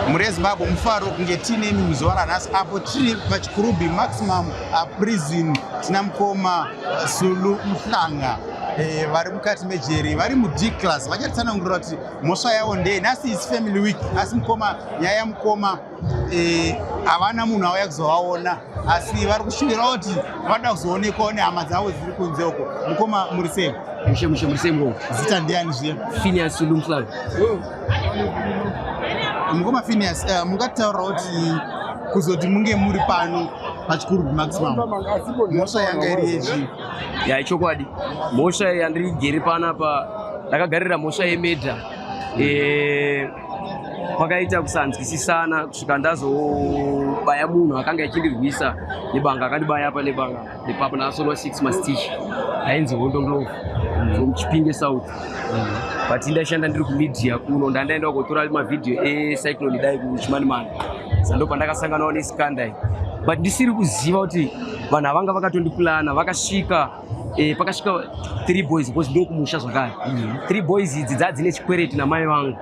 mhuri yezimbabwe mufaro kunge tiinemi muzuva ranhasi apo tiri pachikurubi maximum uh, prison tina mukoma uh, sulu muhlanga eh, vari mukati mejeri vari mudclass vachatsanangurira kuti mhosva yavo ndeye nhasi is family week asi mukoma nyaya yamukoma eh, havana munhu auya kuzovaona asi vari kushuvirawo kuti vanoda kuzoonekwawo nehama dzavo dziri kunze uko mukoma muri sei mushe mushe muri sei ngo zita ndiani zviye finias lumflav mukoma finias uh, eh, mungataurawo kuti kuzoti munge muri pano pachikuru maximum mhosva yanga iri yezvii ya ichokwadi mhosva yandirigeri panapa ndakagarira mhosva yemedha mm. e, kwakaita kusanzwisisana kusvika ndazobaya munhu akanga achindirwisa nebanga akandibaya apa nebanga nepapa ndakasolwa six mastich ainzi hondo ndlovu from chipinge south but ndaishanda ndiri kumedia kuno ndandaenda kotora mavhidhiyo ecyclone dai kuchimanimani sando pandakasanganawo nesikandai but ndisiri kuziva kuti vanhu avanga vakatondipulana vakasvika eh, pakasvika three boys because ndokumusha zvakare mm. three boys idzi dzaa dzine chikwereti namai vangu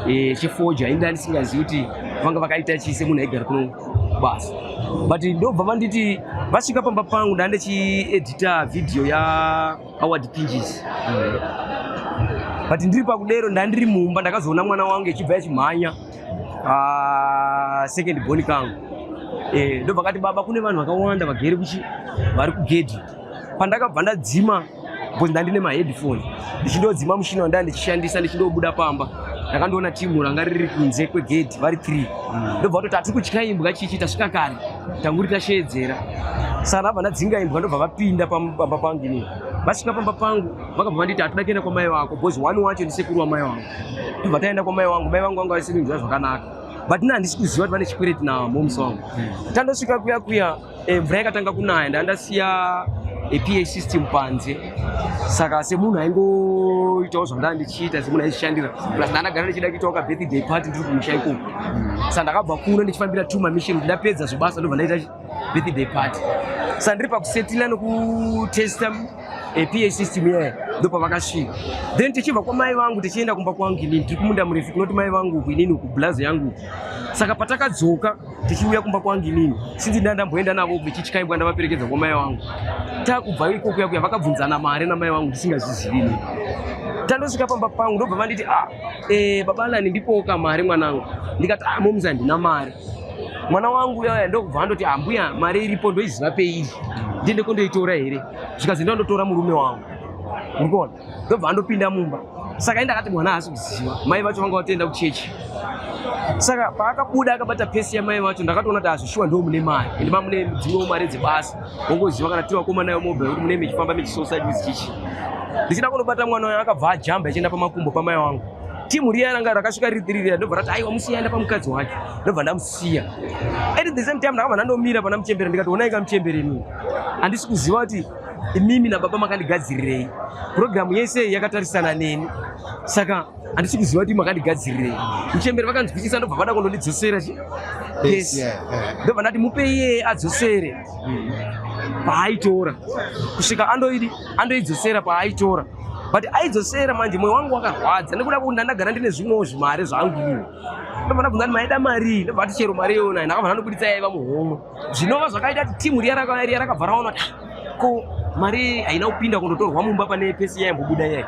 eh, chefoja inda ndisingazivi kuti vanga vakaita chise munhu aigara kuno basa but ndobva vanditi vasvika pamba pangu ndaa ndichiedita vhidhiyo yaaward pinges mm. but ndiri pakudero ndaa ndiri mumba ndakazoona mwana wangu echibva yachimhanya Ah, second born kangu eh, ndobva kati baba kune vanhu vakawanda vagere kuchi vari kugedhi pandakabva ndadzima bcause ndandine maheadphone ndichindodzima mushina wandaa ndichishandisa ndichindobuda pamba ndakandoona timu ranga riri kunze kwegedhi vari three mm. ndobva vatoti hatiri kutya imbwa chichi tasvika kare tanguri tasheedzera sana abva ndadzinga imbwa ndobva vapinda pamba pangu inini vasvika pamba pangu vakabva vanditi hatoda kuenda kwamai vako bcause one wacho ndisekuru wamai vangu tobva taenda kwamai wangu mai vangu vanga vasiri kunzwa zvakanaka but na handisi kuziva kuti vane chikwereti na moms wangu hmm. tandosvika kuya kuya eh, mvura yakatanga kunaya ndandasiya eh, pa system panze saka semunhu aingoitawo zvandanga ndichiita semunhu aizvishandira plus ndandagara ndichida kuitawo kabirthday party ndiri kumusha ikoko hmm. saka ndakabva kuno ndichifambira two mamishin kuti ndapedza zvobasa ndobva ndaita birthday party sandiri pakusetila nekutesta eh, pa system yaye ndopavakasvika then tichibva kwamai vangu tichienda kumba kwangu inini tiri kumunda murefu kunoti mai vangu uku inini uku blazi yangu uku saka patakadzoka tichiuya kumba kwangu inini sinzi nda ndamboenda navo vechityaibwa ndavaperekedza kwamai vangu takubva iko kuya kuya vakabvunzana mari namai vangu ndisingazvizivi inini tandosvika pamba pangu ndobva vanditi ah, e, eh, babalani ndipoka mari mwanangu ndikati ah, momza ndina mari mwana wangu uya uya ndokubva andoti ambuya ah, mari iripo ndoiziva peiri ndiende kondoitora here zvikazi ndandotora murume wangu urikuona ndobva andopinda mumba saka enda akati mwana haasi kuziva mai vacho vanga vatoenda kuchechi saka paakabuda akabata pesi yamai vacho ndakatoona kuti azvishuwa ndo mune mari ende mamune dzimwewo mari dzebasa wongoziva kana tiri vakoma nayo mobile kuti mune mechifamba mechisosaidi chichi ndichida kunobata mwana uyo akabva ajamba achienda pamakumbo pamai wangu timu riya ranga rakasvika riri tiri riya ndobva rati aiwa musiya enda pamukadzi wake ndobva ndamusiya at the same time ndakabva ndandomira pana muchembere ndikati onai ka muchembere inini handisi kuziva kuti imimi nababa makandigadzirirei purogiramu yese yakatarisana neni saka handisi kuziva kuti makandigadzirirei muchembere vakanzwisisa ndobva vada kundondidzosera chi yes ndobva ndati mupei iyeye adzosere mm. paaitora kusvika andoidi andoidzosera paaitora but aidzosera manje mwoyo wangu wakarwadza nekuda kuti ndandagara ndine zvimwewo zvimari zvangu ini ndobvana bvunza kuti maida marii ndobva ati chero mari iyona ndakabva ndandobuditsa yaiva muhomwe zvinova zvakaita kuti timu riya riya rakabva raona kuti ah, ko mari haina kupinda kundotorwa mumba pane pesi yaimbobuda yai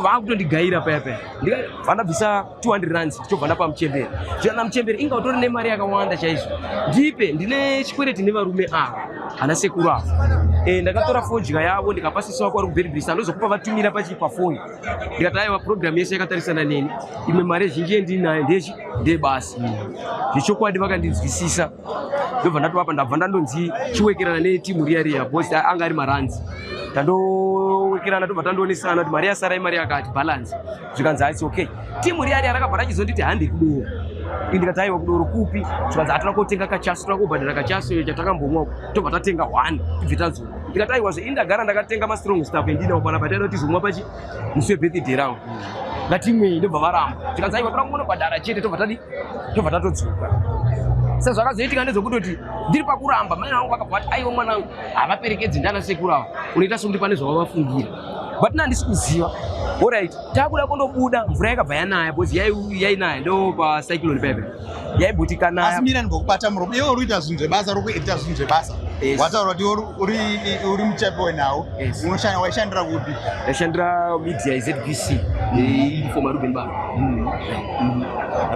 vakutondigaira paya paya ndikabvisa 200 rands tichobva ndapa muchembere zviana muchembere inga utori nemari yakawanda chaizvo ndipe ndine chikwereti nevarume ava ana sekuru ava e, ndakatora fodya yavo ndikapa sisi wako ari kuberibirisa andozokupa vatumira pachi pafoni ndikati aiwa programu yese yakatarisana neni imwe mari zhinji yendinayo ndechi ndebasi zvechokwadi vakandinzwisisa ndobva ndatovapa ndabva ndandonzi chiwekerana netimu riya riya bos anga ari maranzi tandowekerana tobva tandoonesana kuti mari yasara imari yakati balance zvikanzi haisi okay timu riya riya rakabva rachizonditi handi kudoro ini ndikati aiwa kudoro kupi zvikanzi hatona kotenga kachaso toda kubhadhara kachaso iyo chatakambomwa uko tobva tatenga one tibve tazoa ndikati aiwa zve ini ndagara ndakatenga mastrong staff endinawo pana pataida tizomwa pachi musi webirthday round ngatimwei ndobva varamba zvikanzi aiwa toda kungonobhadhara chete tobva tadi tobva tatodzoka sezvakazoitika ndezvokutoti ndiri pakuramba mai vangu vakabva vati aiwa mwanangu havaperekedzi ndana sekuru ava unoita sokuti pane zvavavafungira but na ndisi kuziva orit takuda kundobuda mvura yakabva yanaya bcause yainaya ndo pacyclone pepe yaibhuti kanaya mira ndikokubata muromo iwe uri kuita zvinhu zvebasa uri kuita zvinhu zvebasa wataura kuti uri muchapi wenawo unoshanda waishandira kupi ndaishandira media izbc mm. for maruben baro mm. mm.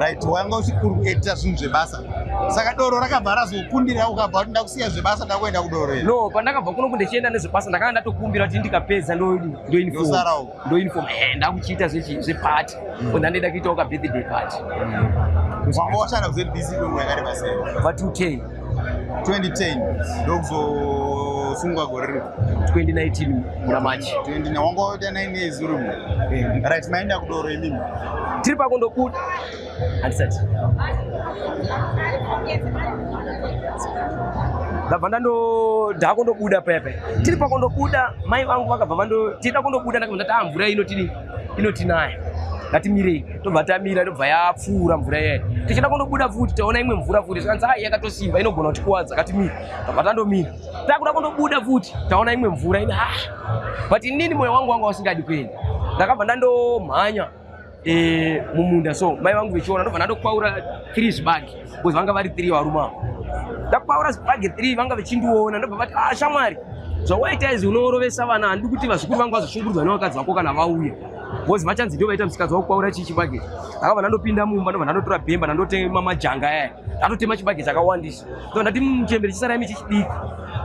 right wanga uri kuita zvinhu zvebasa saka doro rakabva razokundira ukabva kuti ndakusiya zvebasa ndakuenda kudoro iri no pandakabva kuno kundichienda nezvebasa ndakanga ndatokumbira kuti ndikapedza ndoinfom eh, ndakuchiita zvepati mm. ona ndaida kuitawo kabirthday pati mm. wanga washanda kuzebc kwenguva yakareba sei va 210 2010 ndokuzosungwa gore riri 2019 muna machi wanga waita 9 years uri mu eh. right maenda kudoro imimi tiri pakundobuda handisati ndabva ndando ndakundobuda paya paya tiri pakundobuda mai vangu vakabva vando tiri takundobuda ndakabva ndati ah mvura inotiri inotinaya ngatimirei tobva tamira tobva yapfuura mvura iyayi tichida kundobuda futi taona imwe mvura futi zvikanzi ai yakatosimba inogona kutikuvadza ngatimira tobva tandomira takuda kundobuda futi taona imwe mvura ine ah but inini moyo wangu wanga usingadi kuenda ndakabva ndandomhanya eh, mumunda so mai vangu vechiona ndobva ndadokwaura three zvibagi because vanga vari three varume avo ndakwaura zvibagi three vanga vechindiona ndobva vati ah shamwari zvawaita izvi unoorovesa vana handi kuti vazukuru vangu vazoshungurudzwa nevakadzi vako kana vauya bhozi vachanzi ndo vaita msikadzi wakukwaura chii chibage aka vana ndopinda mumba ndova ndandotora bhemba ndandotema majanga aya ndatotema chibage chakawandisa so ndati muchembere chisara imi chichidiki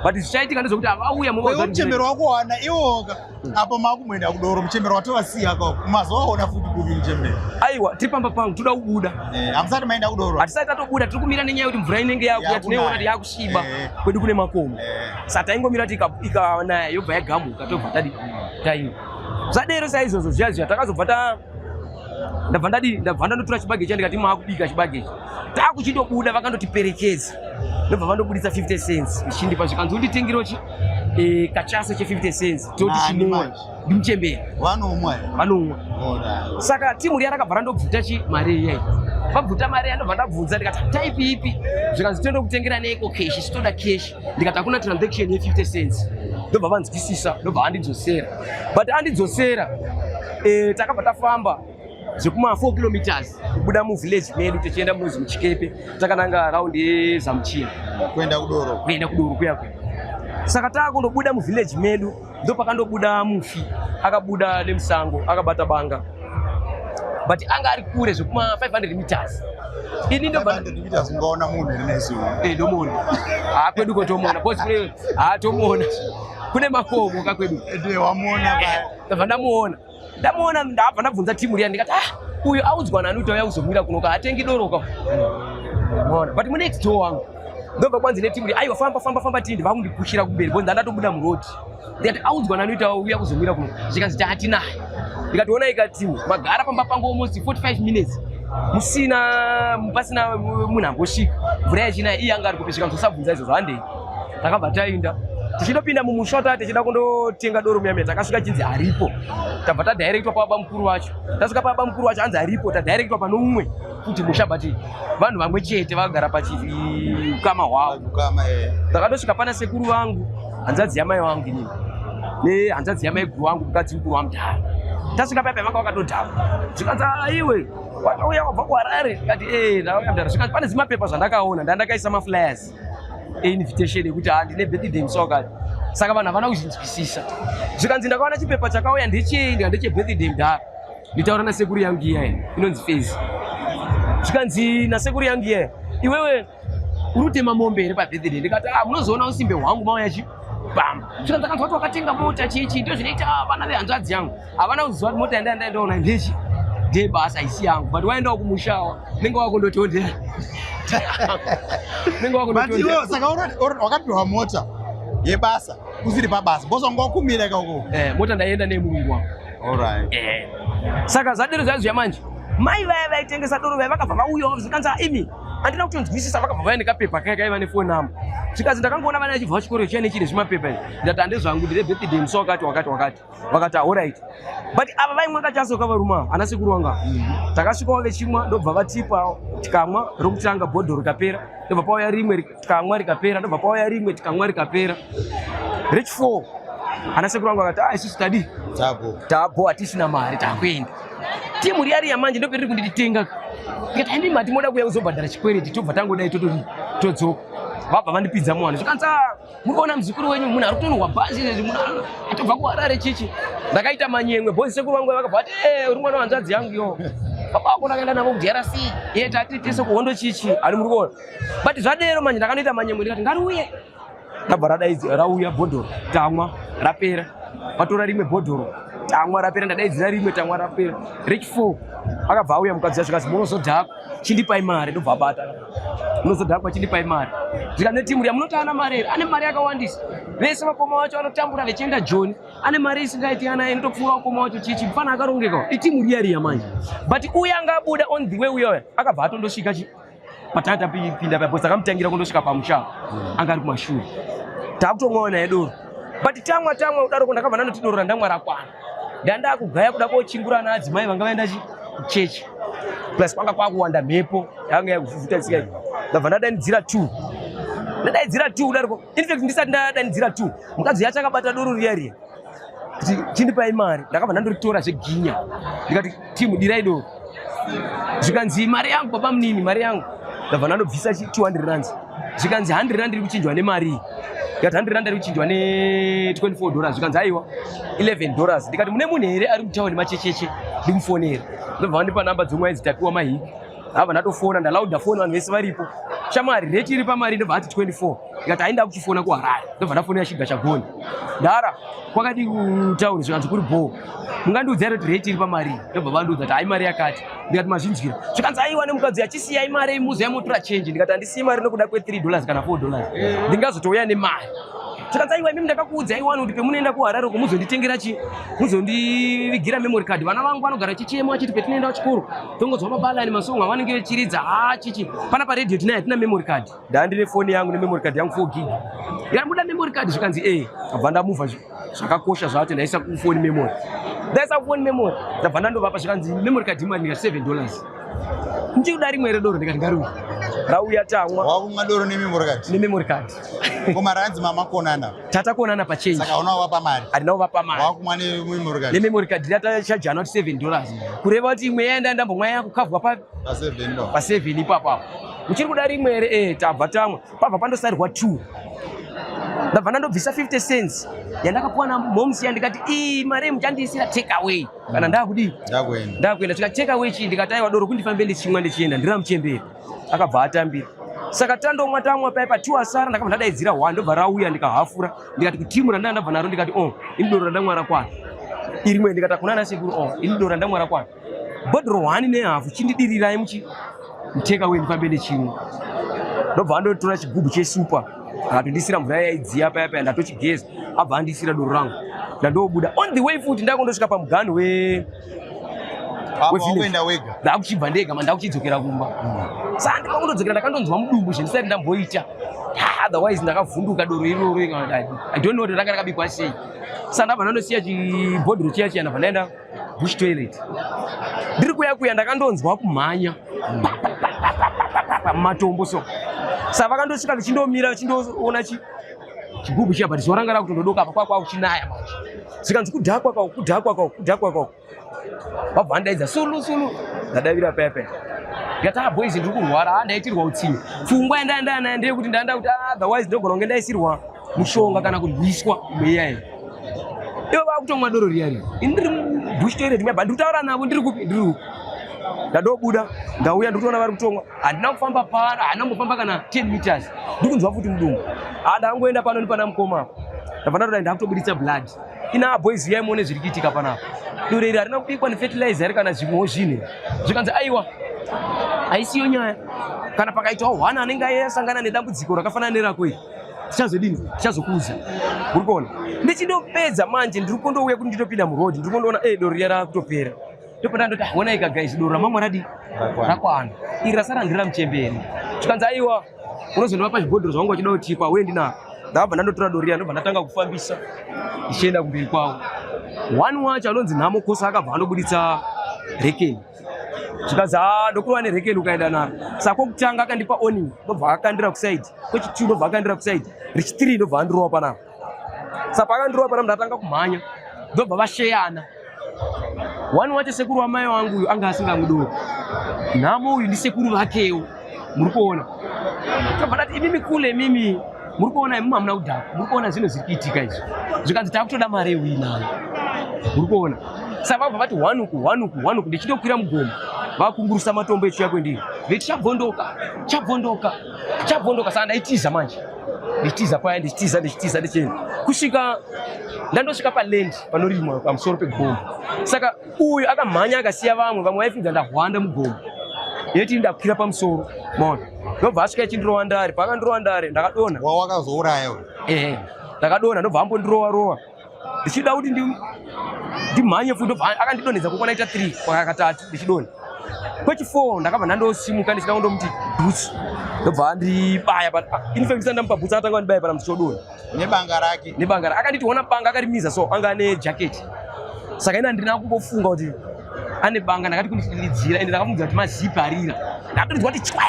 but zvichaitika ndezvekuti avauya muchembere wakuwana iwoka apo makumwenda kudoro muchembero watovasiya ko mazoona futi kuvi muchembero aiwa tiri pamba pangu toda kubuda eh, hamusati eh, maenda kudoro hatisati tatobuda tiri kumira nenyaya yekuti mvura inenge yakuya tinoiona kuti yakusviba eh. kwedu kune makomo eh. sa taingomira kuti ikanaya yobva yagamuka tobva tadi taima zvadero saizvozvo zviya zviya takazobva ta ndabva ndadii ndabva ndandotora chibage cha ndikati maakubika chibage ichi takuchindobuda vakandotiperekedza ndobva vandobuditsa 50 cents ichindipa zvikanzi unditengirewo chi eh, kachaso che50 cents toti chinoa ndimuchembera vanomwa vanomwa saka timu riya rakabva randobvuta chi mari iyai vabvuta mari yandobva ndabvunza ndikati type ipi zvikanzi toenda kutengera neiko keshi sitoda keshi ndikati hakuna transaction ye 50 cents ndobva vanzwisisa ndobva andidzosera but andidzosera eh, takabva tafamba zvekuma 4 kilometers kubuda muvillage medu tichienda munozi muchikepe takananga round yezamuchina kuenda kudoro kuenda kudoro kuya kuya saka taakundobuda muvillage medu ndopakandobuda mufi akabuda nemusango akabata banga but anga ari kure zvekuma 500 meters ini ndoungaona munhu eh, ndomuona haa kwedu ko tomuona bcause kune haa tomuona kune makomo ka kwedu eh, eh, ndabva ndamuona ndamuona ndabva ndabvunza timu riya ndikati ah uyu audzwa nani kuti auya kuzomwira kunoka hatengi doroka mona but munext door wangu ndobva kwanzi netimu ri aiwa famba famba famba tindi vakundipushira kumberi bonzi ndandatobuda muroad ndikati audzwa nani kuti auya kuzomwira kunoka zvikanzi taatinaye ndikationa ikatimu magara pamba pangu almost 45 minutes musina pasina munhu ambosvika mvura yachina iye anga ari kupi zvikanzosabvunza izvozvo handei takabva tainda tichindopinda mumusha taa tichida kundotenga doro muyamia takasvika chinzi haripo tabva tadirectwa pababa mukuru wacho tasvika pababa mukuru wacho hanzi haripo tadirectwa pano umwe futi musha but vanhu vamwe chete vagara pachiukama hwavo eh. takatosvika pana sekuru vangu hanzadzi yamai vangu inini nehanzadzi yamai guru vangu mukadzi mukuru wamudhara tasvika paipa vanga vakatodhava zvikanzi aiwe ah, watauya wabva kuharare kati e eh, ndauya mudhara zvikanzi pane zimapepa zvandakaona ndandakaisa maflyers invitation yekuti ha ndine birthday musi wakati saka vanhu havana kuzvinzwisisa zvikanzi ndakaona chipepa chakauya ndechei ndika ndechebirthday mdhara nditaura nasekuru yangu iyaye inonzi fezi zvikanzi nasekuru yangu iyaye iwewe uri kutema mombe here pabirthday ndikati ah, munozoona usimbe hwangu mauya chi bamba saka ndakanzwa kuti wakatenga mota chichi ndizvo zvinoita vana vehanzvadzi yangu havana kuziva kuti mota yandaya ndaendaona ndechi ndiye basa isi yangu but waendawo kumushawa nenge wakundotondera nenge wakundotondera saka wakapihwa mota yebasa usiri pabasa because wanga wakumira ikako eh, mota ndaienda neye murungu wangu alright eh. saka zvadero zvaizviya manje mai vaya vaitengesa doro vaya vakabva vauyawo zvikanzi imi handina kutonzwisisa vakabva vaya nekapepa kaya kaiva nefoni namba zvikanzi ndakangoona vana vachibva vachikoro chiya nechine zvimapepa izvi ndati handezvangu ndire birthday musi wakati wakati wakati vakati ahorit but ava vaimwa kachaso kavaruma ana sekuru wanga takasvikawo vechimwa ndobva vatipawo tikamwa rokutanga bhodho rikapera ndobva pauya rimwe tikamwa rikapera ndobva pauya rimwe tikamwa rikapera rich four ana sekuru wangu vakati ah isusu tadi tabo tabo hatisina mari takuenda timu riya riya manje ndoperiri kundititenga tikati haindi mati moda kuya kuzobhadhara chikwereti tobva tangodai todzoka vabva vandipidza mwana zvikanzi ah, muri kuona muzukuru wenyu munhu ari kutonhwa bhazi izvezvi munhu atobva kuharare chichi ndakaita manyemwe bozi sekuru vangu vakabva vati eh, uri mwana wanzvadzi yangu yo baba vako ndakaenda navo kudrc iye tati tese kuhondo chichi ari muri kuona but zvadero manje ndakanoita manyemwe ndikati ngariuye ndabva radaidzi rauya bhodhoro tamwa rapera vatora rimwe bhodhoro tamwa rapera ndadaidzira rimwe tamwa rapera rechifo akabva auya mukadzi yacho kazi munozodhako chindipai mari ndobva abata unozodhakwa chindipai mari zvika netimu riya munoti ana mari here ane mari yakawandisa vese vakoma wacho anotambura vechienda joni ane mari isingaiti ana inotopfuura ukoma wacho chichi mfana akarongeka itimu riya riya manje but uye anga abuda on the way uyoya akabva atondosvika chi patanga tapinda paya bcause akamutangira kundosvika pamushaa anga ari kumashure takutomwaona yedoro but tamwa tamwa udaroko ndakabva ndanoti doro randamwa rakwana ndandakugaya kuda kochingura ana adzimai vanga vaenda chi kuchechi plus kwanga kwakuwanda mhepo yanga yakufufuta tsika iyi ndabva ndadanidzira two ndadaidzira two kudariko infact ndisati ndadanidzira two mukadzi uya achakabata doro riya riya kuti chindipai mari ndakabva ndandoritora zveginya ndikati Team Diraido. Zvikanzi mari yangu baba munini mari yangu. Ndabva ndandobvisa 200 rand. Zvikanzi 100 rand iri kuchinjwa nemari. Ndikati 100 rand iri kuchinjwa ne 24 dollars. Zvikanzi aiwa 11 dollars. Ndikati mune munhu here ari kutaura nemachecheche ndikufonera. Ndobva vandipa namba dzomwe idzi tapiwa mahiki. Hava ndatofona ndalauda foni vanhu vese varipo. Shamwari rate iri pamari ndobva ati 24. ndikati ainda kuchifona kuharare ndobva ndafonera shiga chagoni ndara kwakadi kutaura zvikanzi kuri bhoo mungandiudza iro kuti reti iri pamari ndobva vandiudza kuti hai mari yakati ndikati mazvinzwira zvikanzi aiwa nemukadzi achisiya imari imuzi yamotora chenji ndikati handisiyi mari nokuda kwe 3 dollars kana 4 dollars ndingazotouya nemari zvikanzi aiwa imimi ndakakuudza iwani kuti pemunoenda kuharare uko muzonditengera chi muzondivigira memory card vana vangu vanogara chichemo achiti petinoenda kuchikoro tongonzwa mabalani masongo avanenge vechiridza haa chichi pana paredio tinaye hatina memory card ndandine foni yangu nememory card yangu 4 gig yanguda memory card zvikanzi e ndabva ndamuva zvakakosha zvacho ndaisa kufoni memory ndaisa kufoni memory ndabva ndandovapa zvikanzi memory card imari ndikati 7 dollars ndichikuda rimwe redoro ndikati ngariuya rauya tamwa wakumwa doro nememory card nememory card koma ranzi mama konana tata konana pachange saka unawo vapa mari andina kuvapa mari wakumwa nememory card nememory card ndata chajana kuti 7 dollars kureva kuti imwe yaenda ndambomwa yakukavwa pa paseven ipapo apo uchiri kuda rimwe here e eh, tabva tamwe pabva pandosarirwa two ndabva ndandobvisa 50 cents yandakapuwa namoms ya ndikati ii mari muchandiisira take away kana mm. ndakudii ndakuenda tika take away chii ndikati aiwa doro kundifambe ndichimwa ndichienda ndiri amuchemberi akabva atambira saka tandomwa tamwa paye patiwa sara ndakabva ndadaidzira one ndobva rauya ndikahafura ndikati kutimu randandabva naro ndikati o oh, ini doro randamwara kwana irimwe ndikati akuna nasekuru o oh, ini doro randamwara kwana bhodhoro hwani nehafu chindidirirai muchi muteka wenyu pambe nechimwe ndobva andotora chigubhu chesupa akatondisira mvura yaidziya paya paya ndatochigeza abva andisira doro rangu ndandobuda on the way futi ndakundosvika pamuganhu we ndakuchibva ndega ma ndakuchidzokera kumba hmm. saa ndimakundodzokera ndakandonzwa mudumbu zvendisati ndamboita otherwise ndakavhunduka doro iroro i don't know kuti ranga rakabikwa sei saa ndabva ndandosiya chibhodhiro chiya chiya ndabva ndaenda bush toilet ndiri kuya kuya ndakandonzwa kumhanya matombo so sa vakandosvika vichindomira vachindoona chi chigubhu chiya but zuva ranga rakutondodoka apa kwakwa kuchinaya manje zvikanzi kudhakwa kwako kudhakwa kwako kudhakwa kwako vabva vandaidza sulu sulu ndadavira paya paya yataa boys ndiri kurwara handaitirwa utsinye pfungwa yandaendaya nayo ndeyekuti ndaenda kuti ah, otherwise ndogona kunge ndaisirwa mushonga kana kurwiswa mweya iyi ivo vakutomwa doro riya riya ini ndiri bush toilet muyaba ndiri kutaura navo ndiri kupi ndiri uku ndadobuda ndauya ndiri kutoona vari kutomwa handina kufamba pano handina kumbofamba kana 10 meters ndiri kunzwa futi mudumbu andangoenda pano nepana mukoma apo ndabva ndatoda ndakutobuditsa blood ina boys uyai muone zviri kuitika panapa doro iri harina kubikwa nefertilizer here kana zvimwewo zvinhu zvikanzi aiwa haisiyo nyaya kana pakaitawo hwana anenge aye asangana nedambudziko rakafanana nerako iri tichazodini tichazokuudza uri kuona ndichindopedza manje ndiri kundouya kuti nditopinda muroad ndiri kundoona e doro riya raakutopera ndopanda ndoti honaika guys doro ramamwe radi rakwana iri rasara ndiri ramuchemberi tikanzi aiwa unozondivapa zvibhodhoro zvavanga vachida kuti kwawe ndinaa ndabva ndandotora doro riya ndobva ndatanga kufambisa ndichienda kumberi kwavo one wacho anonzi nhamo kosa akabva andobuditsa rekeni zvikanzi haa ndokurova nerekeni ukaenda naro saka kwokutanga akandipa oning ndobva akandira kusaidi kwechituu ndobva akandira kusaidi rechithree ndobva andirova panapa saka paakandirova panapa ndatanga kumhanya ndobva vasheyana wani wacho sekuru wamai wangu uyu anga asingamudoro nhamo uyu ndisekuru vakewo muri kuona tobva tati imimi kule imimi muri kuona imimi hamuna kudhaka muri kuona zvinhu zviri kuitika izvi zvikanzi takutoda mari yeuinayo muri kuona saka vabva vati hwanuku hwanuku hwanuku ndichitokwira mugomo vakungurusa matombo echiuya kwendiri veti chabvondoka chabvondoka chabvondoka saka ndaitiza manje ndichitiza paya ndichitiza ndichitiza ndichienda kusvika ndandosvika palendi panorimwa pamusoro pegomo saka uyu akamhanya akasiya vamwe vamwe vaifunga ndahwanda mugomo yeti ndakwira pamusoro maona ndobva asvika ichindirova ndare pakandirova ndare ndakadonha wawakazouraya ehe ndakadonha ndobva ambondirova rova ndichida kuti ndimhanye futi ndobva akandidonhedza kukona ita three kwakatatu ndichidonha kwechifour ndakabva ndandosimuka ndichida kundomuti bhutsu ndobva andibaya infact ndisandamupa bhutsu akatanga andibaya pana muti chodonha nebanga rake nebanga rake akanditi ona banga akarimiza so anga ane jacket saka ini andina kumbofunga kuti ane banga ndakati kundidiridzira ende ndakamuudza kuti mazipi arira ndakatonzwa kuti chwe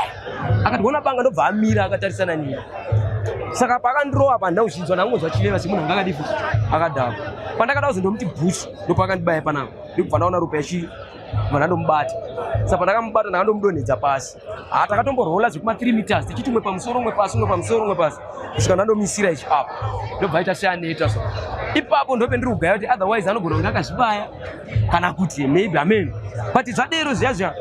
akati ona banga ndobva amira akatarisana nini saka paakandirowa pa ndauchinzwa ndakungonzwa chiveva semunhu anga akadii akadhakwa pandakada kuzondomuti bhush ndopaakandibaya panapa ndikubva ndaona ropa yachi mwana ndomubata sa pandakamubata ndakandomudonhedza pasi ha takatomborhola zvekuma 3 meters tichiti umwe pamusoro umwe pasi umwe pamusoro umwe pasi kusvika ndandomisira ichi apo ndobva aita seaneta so ipapo ndope ndiri kugaya kuti otherwise anogona kunge akazvibaya kana kuti maybe amen but zvadero zviya zviya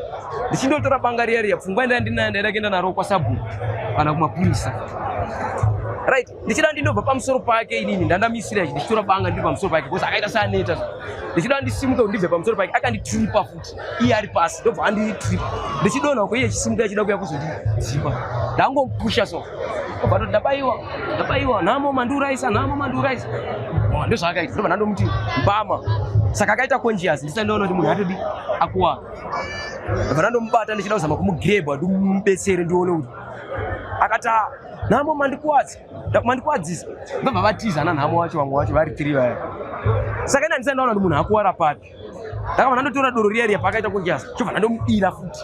ndichindotora banga riya riya pfungwa ndaya ndinayo ndaida kuenda naro kwasabhu kana kumapurisa right ndichida ndinobva pamusoro pake inini ndandamisira ichi ndichitora banga ndiri pamusoro pake bcause akaita seaneta ndichida ndisimuke kuti ndibve pamusoro pake akanditripa futi iye ari pasi ndobva anditripa ndichidona uko iye chisimuka achida kuya kuzondizipa ndangomupusha so obva toti ndabaiwa ndabaiwa nhamo mandiuraisa nhamo mandiuraisa ndozvaakaita ndobva ndandomuti mbama saka akaita conscious ndisandiona kuti munhu atodi akuwara ndobva ndandomubata ndichida kuzama kumugreba ndimubetsere ndione kuti akata nhamo mandikwadza mandikwadzisa ndobva vatiza nanhamo wacho vamwe wacho vari tiri vaya saka ina ndisai ndaona kuti munhu akuwara papi ndakabva ndandotora doro riya riya paakaita kunjasa chobva ndandomudira futi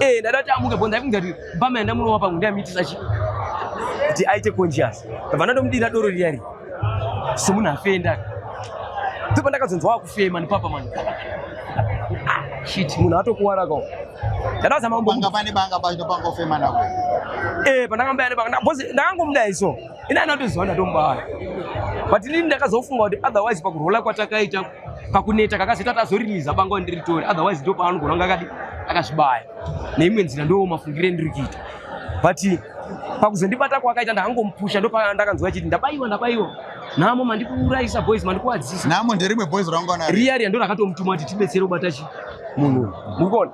eh, ndada kuti amuke bo ndaikunza kuti mbama yandamunowa pangu ndiyamitisach kuti aite conscious ndabva ndandomudira doro riya riya Someone afenda. Ndipo ndakazonzwa kufema ni papa man. Shit, munhu atokuwara ko. Ndakaza mambo. Banga pane banga banga banga ofema nako. Eh, pandakambaya ne banga. Boss ndakangomuda iso. Ina anotozwa ndatomubaya. But ndini ndakazofunga kuti otherwise pakurola kwatakaita pakuneta kakazoita kuti azoriliza bango andiri tori otherwise ndo paanogona kunge akadi akazvibaya neimwe nzira ndo mafungire ndiri kuita but pakuzondibata kwakaita ndakangomupusha ndo pandakanzwa chiti ndabaiwa ndabaiwa namo mandikuurayisa boys mandikuwadzisa namo nderimwe boys rangwana riaria ndo rakatomutuma kuti tibetsere kubata chi munhu mukona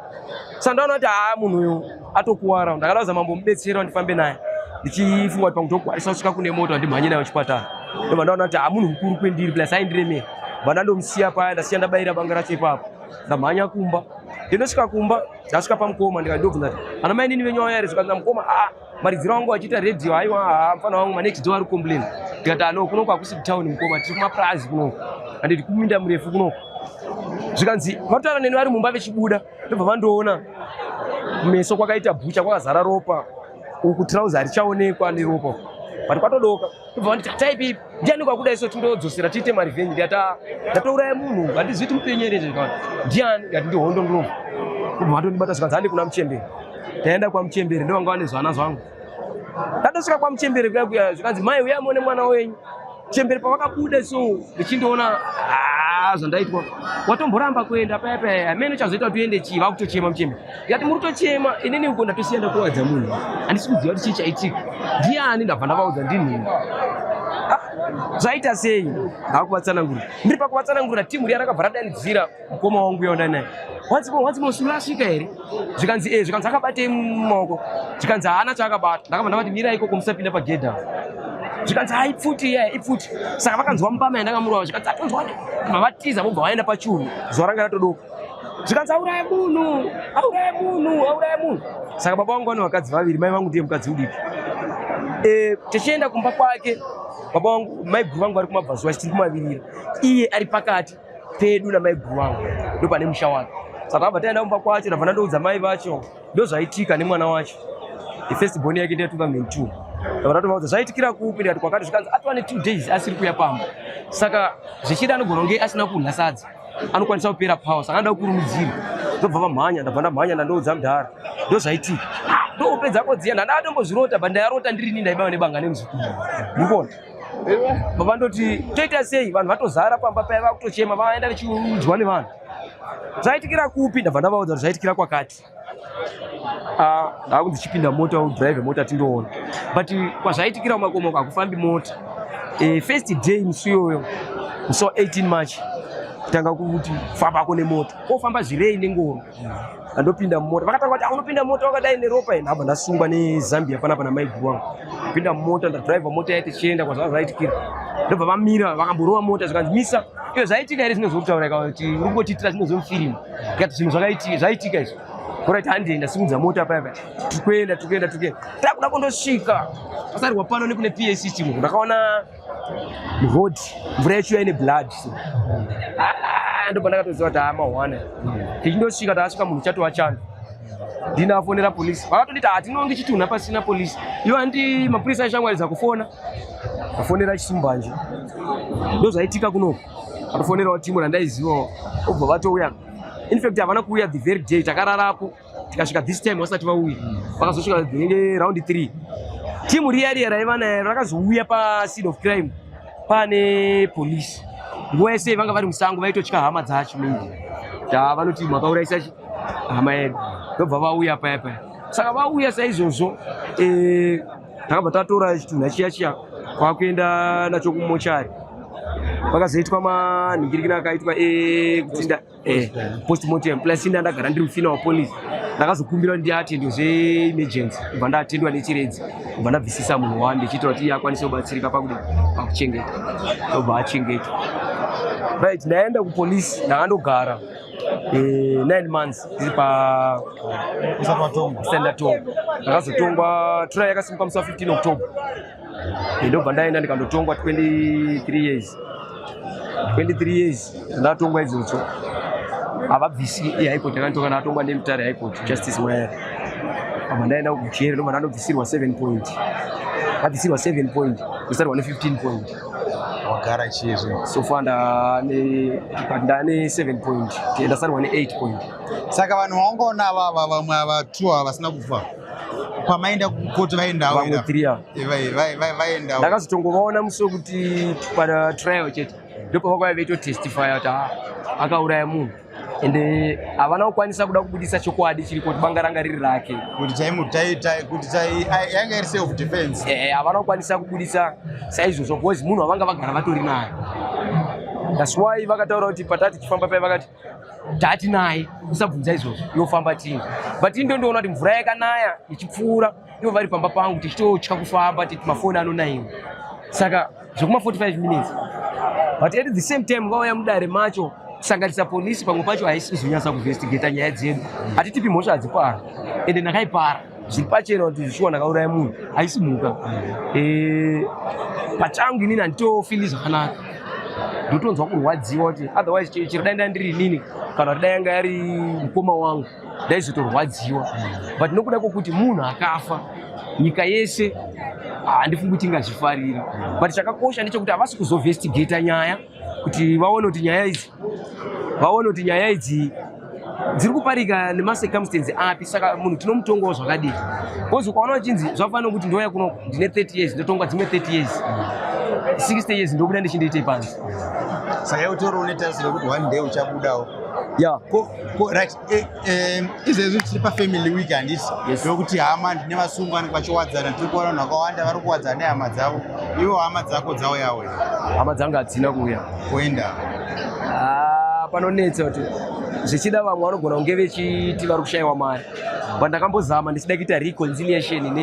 sando anoti haa munhu uyo atokuwara ndakadauza mambo mubetsere wandifambe naye ndichifunga kuti pakutokwarisa kusvika kune moto wandimhanye nayo chipatara ndobva ndaona kuti hamunhu mukuru kwendiri plus aindiremei bva ndandomusiya paya ndasiya ndabayira banga racho ipapo ndamhanya kumba ndinosvika kumba ndasvika pamukoma ndikandobvunza kuti ana mai nini venyu vauya here zvikanzi namukoma a ah, maridziro wangu achiita radio haiwa haa ah, mfana wangu manext door ari complain ndikati ano ah, kunoku hakusi kutown mukoma tiri kumapurazi kunoku handiti kuminda murefu kunoku zvikanzi vatotaura neni vari mumba vechibuda ndobva vandiona kumeso kwakaita bhucha kwakazara ropa uku trouser harichaonekwa neropa but kwatodoka ndobva vanditi hatai pipi ndiani kwakuda iso tindodzosera tiite marevenge ndikati ah, ndatouraya munhu handizivi ti mupenyu here zvekati ndiani ndikati ndihondo ndinobva ndobva vandondibata zvikanzi handi kuna muchemberi ndaenda kwamuchemberi ndovanga vane zvana zvangu Ndadosvika kwamuchembere kuya kuya zvikanzi mai uya muone mwana wenyu. Chembere pavakabuda so ndichindoona ah, zvandaitwa watomboramba kuenda paya paya amene chazoita kuti uende chii vakutochema muchembere ndikati muri kutochema inini uko ndatosiya ndakuwadza munhu handisi kuziva kuti chii chaitika ndiani ndabva ndavaudza ndinhini zvaita sei hakuvatsanangura ndiri pakuvatsanangura timu riya rakabva radanidzira mukoma wangu uya ndanaye once more once more sulu asvika here zvikanzi e zvikanzi akabatei mumaoko zvikanzi haana chaakabata ndakabva ndavati mirai ikoko musapinda pagedhi apo zvikanzi ha ipfuti iya ipfuti saka vakanzwa mupama yandakamurova zvikanzi atonzwa bva vatiza vobva vaenda pachuru zuva ranga ratodoko zvikanzi auraya munhu auraya munhu auraya munhu saka baba vangu vane vakadzi vaviri mai vangu ndiye mukadzi udiki e, tichienda kumba kwake baba vangu maiguru vangu vari kumabvazuva chitiri kumavirira iye ari pakati pedu namaiguru vangu ndo pane musha wake saka abva taenda kumba kwacho ndabva ndoudza mai vacho ndozvaitika nemwana wacho the first born yake ndeya 2002 ndabva ndatovaudza zvaitikira kupi ndikati kwakati zvikanzi atova ne two days asiri kuya pamba saka zvichida anogona kunge asina kunha sadza anokwanisa kupera power saka anoda kukurumidzira ndobva vamhanya ndabva ndamhanya ndandoudza mudhara ndozvaitika ndopedza kodziya ndandatombozvirota but ndayarota ndirini ndaibaiwa nebanga nemuzukuru mukona vandoti toita sei vanhu vatozara pamba paya vakutochema vaenda vechiudzwa nevanhu zvaitikira kupi ndabva ndavaudza kuti zvaitikira kwakati ah, ndakunzi ndichipinda mota udrive mota tindoona but kwazvaitikira kumakomo hakufambi mota eh, first day musi iyoyo musi wa 18 march tanga kuti fambako nemota kofamba zvirei nengoro andopinda mumota vakatanga kuti ah, unopinda mota wakadai neropa ine abva ndasungwa nezambia panapa namaiguru wangu pinda mumota ndadriva mota yaiti chienda kwazvaa zvaitikira ndobva vamira vakamborova mota zvikanzi misa iyo zvaitika here zvinozokutaura ika kuti uri kungotiitira zvinozomufirimu ikati zvinhu zvaitika izvo orit handei ndasimudza mota paya paya tikuenda tikuenda tikuenda takuda kundosvika pasarwa pano nekune pac chimu ndakaona road mvura yachiuya ine blood so ah, ndo pandakatoziva kuti amawana tichindosvika taasvika munhu chatova chando ndinafonera polisi vakatonditi hatinongi chitunha pasina polisi ivo andi mapurisa aishangwaridza kufona afonera chisimbanje ndozvaitika kunoku atofonerawo timu randaizivawo obva vatouya infact havana kuuya the very day takararapo tikasvika this time vasati vauya vakazosvika inenge round three timu riya riya raiva nayo rakazouya paseed of crime pane police nguva yese vanga vari musango vaitotya hama dzacho mingi ta vanoti makauraisa hama yedu ndobva vauya paya paya saka vauya saizvozvo eh, takabva tatora chitunha chiya chiya kwakuenda nacho kumochari pakazoitwa manhingirikina akaitwa ekutsinda eh, eh, post mortem plus ini andagara ndiri mufina wapolice ndakazokumbira kuti ndiatendwe zveemergency kubva ndatendwa nechiredzi kubva ndabvisisa munhu wani ndichiitira kuti iye akwanise kubatsirika pakuda pakuchengeta obva achengeta right ndaenda kupolice ndakandogara eh, nine months ndiri pastandatongwa ndakazotongwa try yakasimuka musi wa 15 october ndobva ndaenda ndikandotongwa 23 years 23 years ndatongwa idzodzo havabvisi high court yakanditonga ndatongwa nemutare high court justice mwayari abva ndaenda kujeri ndobva ndanobvisirwa 7 point abvisirwa 7 point kusarwa ne15 point wagara chizvi so far ndane but ndane 7 point ndasarwa ne8 point saka vanhu vaungaona avava vamwe ava two ava vasina kufa kwamaenda kukoti vaendawo vamwe three ava Eh, vai- vai- vai- vaendawo ndakazotongovaona musi wekuti pana trial chete ndopavakauya veitotestifya kuti "Ah, akauraya munhu ende havana kukwanisa kuda kubudisa chokwadi chiri kuti banga ranga riri rake kuti chaimu tai- tai- kuti tai- ai- yanga iri self defense Eh, havana kukwanisa kubudisa saizvozvo because munhu wavanga vagara vatori naye thats why vakataura kuti patati tichifamba paye vakati tatinaye usabvunza izvozvo yofamba tini but indo ndoona kuti mvura yakanaya ichipfuura ivo vari pamba pangu tichitotya kufamba titi mafoni anonaiwa saka zvekuma 45 minutes but at the same time vauya mudare macho kusanganisa polisi pamwe pacho haisi kuzonyasa kuinvestigata nyaya dzedu hatitipi mhosva hadzipara ende ndakaipara zviri pachena kuti zvishuwa ndakauraya munhu haisi mhuka eh, pachangu inini handitofili zvakanaka ndotonzwa kurwadziwa kuti otherwise chero dai ndai ndiri inini kana kuti dai yanga yari mukoma wangu ndaizotorwadziwa but nokuda kwokuti munhu akafa nyika yese handifungi kuti ingazvifarira but chakakosha ndechekuti havasi kuzovestigata nyaya kuti vaone kuti nyaya idzi vaone kuti nyaya idzi dziri kuparika nemacircumstance api saka munhu tinomutongawo zvakadii bcause ukaona uchinzi zvafana kuti ndouya kuno ndine 30 years ndotonga dzimwe 30 years 60 years ndobuda ndichindiitei panzi saka yautori une tarisiro yekuti one day uchabudawo ya ko ko right Eh, eh, izvezvi tiri pafamily week handisi ndokuti hama ndine vasungwa vanenge vachiwadzana tiri kuona vanhu vakawanda vari kuwadzana nehama dzavo ivo hama dzako dzauyawo hama dzangu hadzina kuuya kuenda ah, panonetsa kuti zvichida vamwe vanogona kunge vechiti vari kushayiwa mari but ndakambozama ndichida kuita reconciliation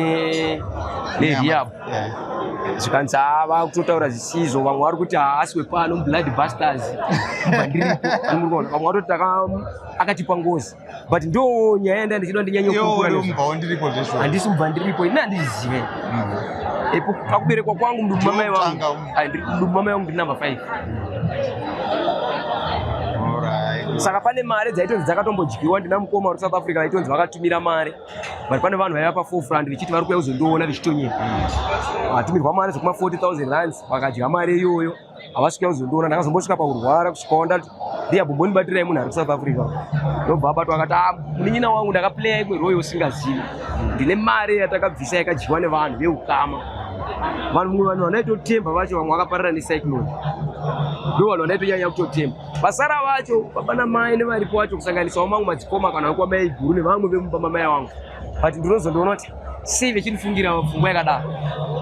nehiyabo zvikanzi haa vakutotaura zvisizvo vamwe vari kuti haasi wepano blood busters vamwe vatoti akatipa ngozi but ndo nyaya yanda ndichida ndinyanyandisi mubva ndiripo ini handizive ipo mm. pakuberekwa kwangu mdumamai wangu mdumamai wangu ndinumber five saka pane mari dzaitonzi dzakatombodyiwa ndina mukoma uri south africa vaitonzi vakatumira mari but pane vanhu vaiva paforefront vechiti vari kuya kuzondoona vechitonyera vatumirwa mari zvekuma 40000 rands vakadya mari iyoyo havasi kuya kuzondoona ndakazombosvika pakurwara kusvika wanda ndiya bomboni batirai munhu ari kusouth africa ndobva abatwa akati ah, munin'ina wangu ndakaplaya imwe royo usingazivi ndine mari yatakabvisa yakadyiwa nevanhu veukama vanhu mumwe vanhu vanaitotemba vacho vamwe vakaparira necyclone ndo vanhu vanaitonyanya kutotemba Vasara vacho baba namai nevaripo vacho kusanganisawo mamwe madzikoma kana vekuwa mai guru nevamwe vemumba mamai wangu but ndinozondiona kuti sei vechindifungira pfungwa yakadaro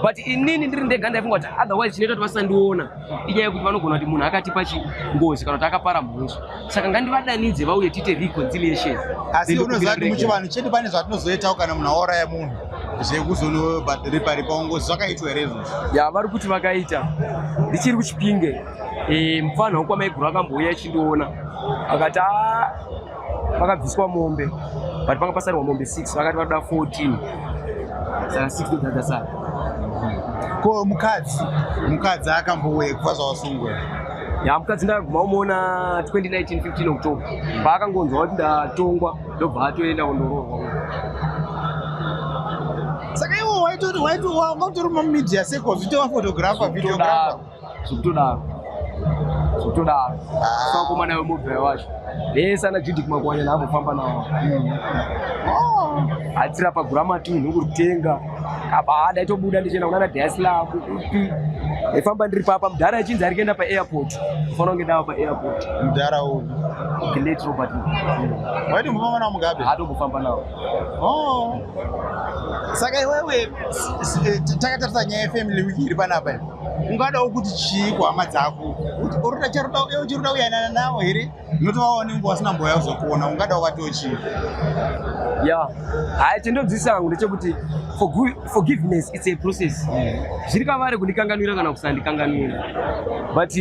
but inini ndiri ndega ndaifunga kuti otherwise chinoita kuti vasandiona inyaya yekuti vanogona kuti munhu akatipa chingozi kana kuti akapara mhunzu saka ngandivadanidze vauye tiite reconciliation asi unoziva kuti muchivanhu chedu pane zvatinozoitawo kana munhu auraya munhu zvekuzonoripa ripa ngozi zvakaitwa here izvozvo ya vari kuti vakaita ndichiri kuchipinge Eh, mupfanha wekwamaiguru akambouya ichindiona akati ah, pakabviswa mombe but panga pasarwa mombe 6 vakati vanoda 14 saka 6 dodada sara ko mukadzi mukadzi akambouya kubva zvawasungwa ya mukadzi ndakaguma umoona 2019 15 october paakangonzwa kuti ndatongwa ndobva atoenda kundoroorwa saka iwo waitoti waitoti wanga utori mumedia seko zvitova photographer videographer zvekutodaro zvekutodaro ah. sakomana nayo mobhera wacho vese ana judik makwanya naambofamba nawo hmm. oh. atsira paguramati munhu kuritenga kabada itobuda ndichienda kunana diaslav upi efamba ndiri papa mudhara achinzi ari kuenda paairport ufanira kunge ndava paairport mudhara uyu glet robert waiti mufamba nawo mugabe atongofamba nawo oh. saka iwewe takatarisa nyaya yefamily week iri panapa ungadawo kuti chii kuhama dzako uruda charuda uye uchiruda kuyanana navo here nokuti vava vanenge vasina mboya kuzokuona ungadawo vatiwo chii ya hai chindodzisa hangu ndechekuti forgiveness its a process zviri kavari kundikanganwira kana kusandikanganwira but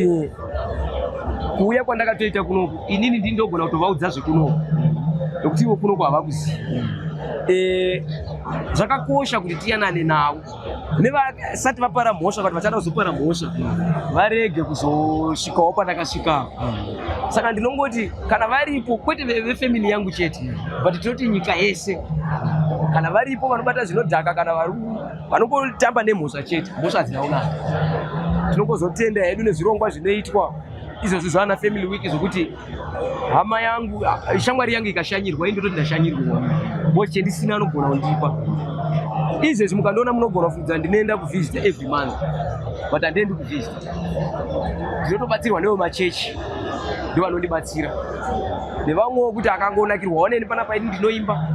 kuuya kwandakatoita kunoku inini ndi ndogona kutovaudza zvekunoku nokuti ivo kunoku havakuzivi eh, zvakakosha kuti tiyanane navo nevasati vapara mhosva vati vachada kuzopara mhosva varege kuzosvikawo pandakasvika saka ndinongoti kana varipo kwete vefamily yangu chete but tinoti nyika yese kana varipo vanobata zvinodhaka kana vanongotamba nemhosva chete mhosva hadzina kunaka tinongozotenda hedu nezvirongwa zvinoitwa izvozvi zvaana family week zvokuti hama yangu shamwari yangu ikashanyirwa ini ndototi ndashanyirwa boss chendisina anogona kundipa izvezvi mukandiona munogona kufungidzira ndinoenda kuvisita every month but handiendi kuvisita ndinotobatsirwa newe machechi ndivanondibatsira nevamwewo kuti akangonakirwa oneni pana paini ndinoimba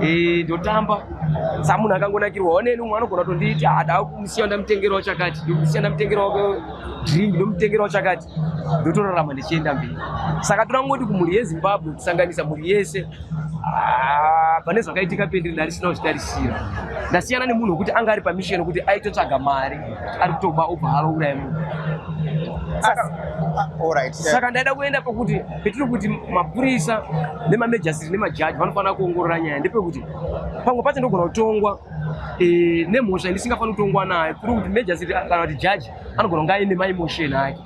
eh, ndotamba sa munhu akangonakirwa oneni umwe anogona tondiiti ada ah, kumusiya ndamutengerawo chakati ndomusiya ndamutengerawo drink ndomutengerawo chakati ndotorarama ndichienda mberi saka toda kungoti kumhuri yezimbabwe kusanganisa mhuri yese ah, pane zvakaitika pendiri ndarisina kuzvitarisira ndasiyana nemunhu wekuti anga ari pamisheni wekuti aitotsvaga mari ari kutoba obva halo uraya munhu ah, saka ndaida kuenda pekuti petiri kuti mapurisa nemamejasiri nemajaji vanofanira kuongorora nyaya ndepekuti pamwe pacho ndogona kutongwa eh, nemhosva yandisingafaniri kutongwa nayo kuri kuti mejasiri kana kuti jaji anogona kunge aine maimotion ake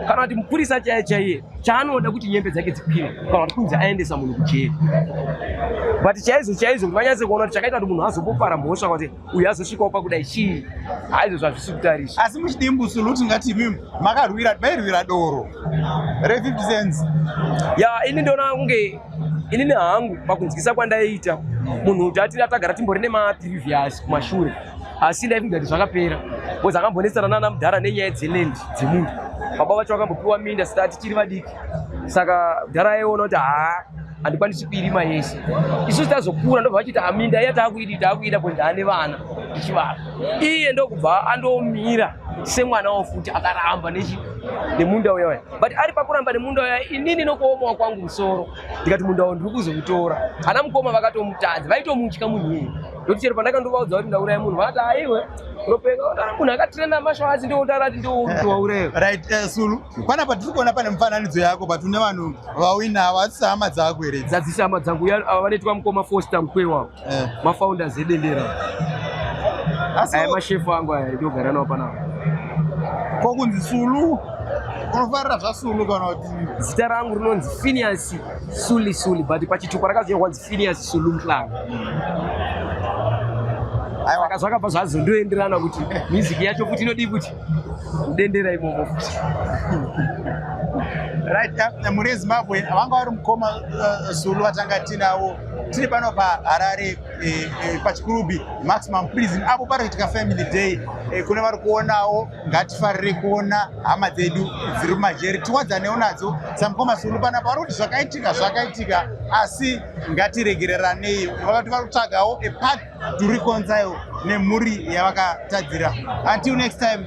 kana kuti mupurisa chaiye chaiye chaanoda kuti nyembe dzake dzikwire kana kuti kunzi aendesa munhu kujeri but chaizvo chaizvo kuti vanyatse kuona kuti chakaita kuti munhu azopopara mhosva kuti uyu azosvikawo pakudai chii haizvo zvazvisi kutarisa asi muchidii mbusulu kuti ngati imi makarwira mairwira doro re 50 cents ya ini ndoona kunge inini hangu pakunzwisa kwandaiita munhu kuti atiri atagara timbori nemaprevious kumashure asi ndaifunga kuti zvakapera bcoz akambonetsana nana mudhara nenyaya dzeland dzemunhu baba vacho vakambopiwa minda sita tichiri vadiki saka mudhara aiona kuti haa handikwanisi kuirima yese isusu tazokura ndobva vachiti aminda ah, iya taakuidi taakuida bcoz ndaane vana ndichivava iye ndokubva andomira semwana wo futi akaramba nechi nemunda uya uya but ari pakuramba nemunda uya inini nokuomawa kwangu musoro ndikati munda wo ndiri kuzoutora ana mukoma vakatomutadza vaitomutya munhu iyeye Ndokuti chero pandakandovaudza kuti ndauraya munhu vati aiwe unopenga ah, munhu akatrena mashoazi ndiotaura kuti ndiowauraya. Right, eh, Sulu, pana patiri kuona pane mufananidzo yako but une vanhu vawina avo hadzisi hama dzako here? Dzadzisi hama dzangu uya ava vanoitwa mukoma Foster Mkwewa, eh. mafounders edendera. Aya mashefu angu aya ndogara nawo panapa. Ko kunzi Sulu unofarira zvasulu kana kuti zita rangu rinonzi Phineas Suli Suli but pachitupa rakazonywa Serious Sulu Mhlanga. Saka zvakabva zvazondoenderana kuti music yacho kuti inodii kuti kudendera imomo futi. Right, uh, mune Zimbabwe vanga vari mukoma uh, Zulu vatanga tinawo tiri pano paharare eh, eh, pachikurubi maximum prison apo pari kuitika family day eh, kune vari kuonawo ngatifarire kuona hama dzedu dziri mumajeri tiwadzanewo nadzo samukoma sulu panapa vari kuti zvakaitika zvakaitika asi ngatiregereranei vakati vari kutsvagawo epat to reconcile nemhuri yavakatadzira until next time